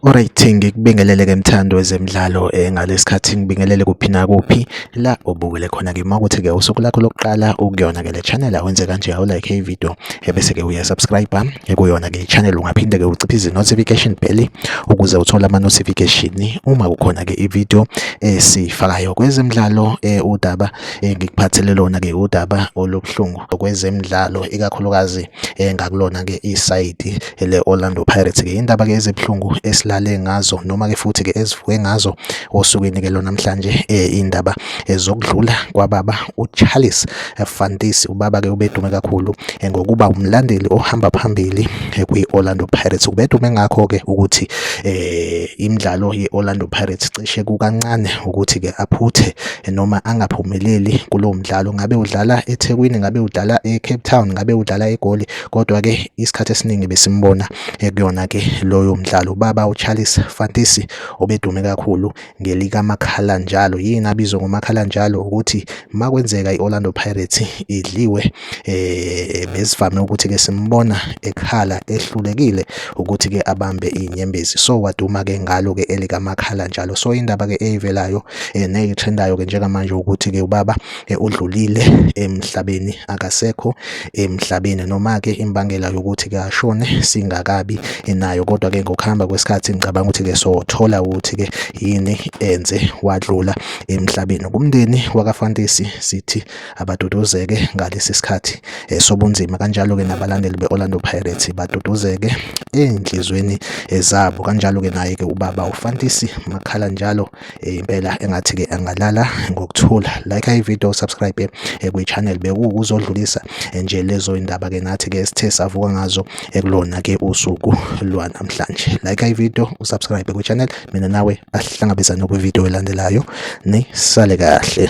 Alright ngikubingelele ke mthando wezemidlalo eh, ngalesikhathi ngibingelele kuphi na kuphi la obukele khona ke mawukuthi ke usuku lakho lokuqala ukuyona ke le channel awenze kanje awu like hey video ebese ke uya subscribe ekuyona ke channel ungaphinde ke uciphe izi notification bell ukuze uthole ama notification uma kukhona ke ivideo esifakayo kwezemidlalo eh, udaba eh, ngikuphathele lona ke udaba olubuhlungu kwezemidlalo ikakhulukazi eh, ngakulona ke isayidi ele Orlando Pirates ke indaba ke ezibuhlungu esilale ngazo noma ke futhi ke ezivuke ngazo osukwini ke lona namhlanje eh, indaba ezokudlula kwababa uCharles Fantis ubaba ke ubedume kakhulu eh, ngokuba umlandeli ohamba phambili eh, kwi Orlando Pirates ubedume ngakho ke ukuthi eh imidlalo ye Orlando Pirates cishe kukancane ukuthi ke aphuthe noma angaphumeleli kulo mdlalo ngabe udlala eThekwini ngabe udlala eCape Town ngabe udlala eGoli kodwa-ke isikhathi esiningi besimbona ekuyona-ke loyo mdlalo ubaba ucharles fantisi obedume kakhulu ngelikamakhala njalo yini abizwa ngomakhala njalo ukuthi uma kwenzeka i-orlando pirates idliwe um besivame ukuthi-ke simbona ekhala ehlulekile ukuthi-ke abambe iy'nyembezi so waduma-ke ngalo-ke elikamakhala njalo so indaba-ke eyivelayo um neyitrendayo-ke njengamanje ukuthi-ke ubaba eh, udlulile emhlabeni akasekho emhlabeni noma-ke imbangela yokuthi ke ashone singakabi nayo kodwa-ke ngokuhamba kwesikhathi ngicabanga ukuthi-ke sothola ukuthi-ke yini enze wadlula emhlabeni kumndeni wakafantesi sithi abaduduzeke ngalesi sikhathi eh, sobunzima kanjalo-ke nabalandeli be-orlando pirates baduduzeke ey'nhliziyweni zabo kanjalo-ke naye-ke ubaba ufantisi makhala njalo eh, impela engathi ke angalala ngokuthula like i video subscribe eh, kwi channel bekuwukuzodlulisa eh, nje lezo indaba ke nathi ke sithe savuka ngazo ekulona ke usuku lwanamhlanje like i video usubscribe kwi channel mina nawe asihlangabezane kwi video elandelayo ni sale kahle